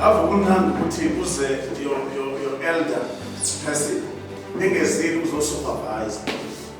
Avukunani ukuthi uze your, your, your elder person ningezile uzosupervise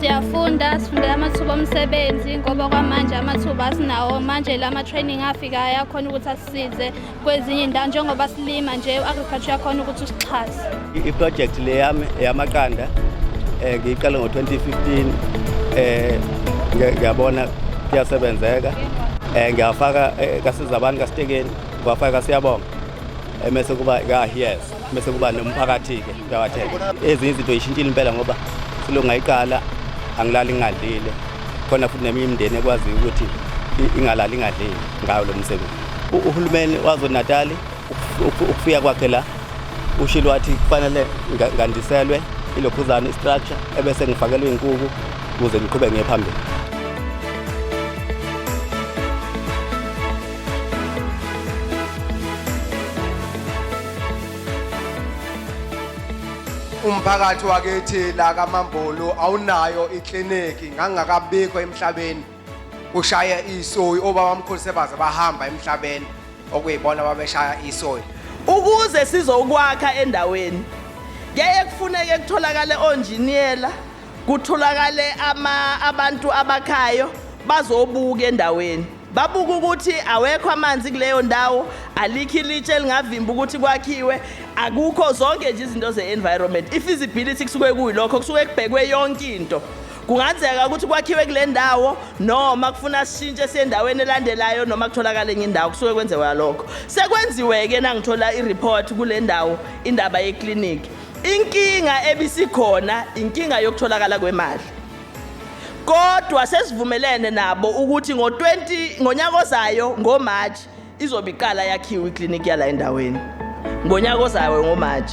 siyafunda sifundela amathuba omsebenzi ngoba kwamanje amathuba asinawo manje la ma-training afikayo akhona ukuthi asisize kwezinye indawo njengoba silima nje u-agriculture yakhona ukuthi usixhase iprojekthi le yami yamaqanda um ngiyiqale ngo-2015 um eh, ngiyabona kuyasebenzeka um ngiyafaka eh, kasiza abantu kasitekeni Kwafaka siyabonga emese kuba ka yes mese kuba nomphakathi ke uyawathela ezinye izinto yishintshile impela ngoba silunga iqala angilali ngingadlile khona futhi neminye imindeni ekwazi ukuthi ingalali ingadlile ngayo lo msebenzi uhulumeni wazonatali ukufika kwakhe la ushilo wathi kufanele ngandiselwe ilokhuzana istructure ebese ngifakelwe inkuku ukuze ngiqhube ngiye phambili umphakathi wakithi la kaMambulu awunayo ikliniki ngangakabikho emhlabeni kushaya isoyi obaba omkhulu sebaze bahamba emhlabeni okuyibona babeshaya isoyi ukuze sizokwakha endaweni kuyeye kufuneke kutholakale onjiniyela kutholakale ama abantu abakhayo bazobuka endaweni babuka ukuthi awekho amanzi kuleyo ndawo alikho ilitshe elingavimba ukuthi kwakhiwe akukho zonke nje izinto ze-environment i-feasibility kusuke kuyilokho kusuke kubhekwe yonke into kungenzeka ukuthi kwakhiwe kule ndawo noma kufuna sishintshe siyendaweni elandelayo noma kutholakale enye indawo kusuke kwenzewa lokho sekwenziwe-ke nangithola i-report kule ndawo indaba yekliniki inkinga ebisikhona inkinga yokutholakala kwemali Kodwa sesivumelene nabo ukuthi ngo-20 ngonyaka ozayo ngoMarch izobe iqala yakhiwe iklinikhi yala endaweni. Ngonyaka ozayo ngoMarch.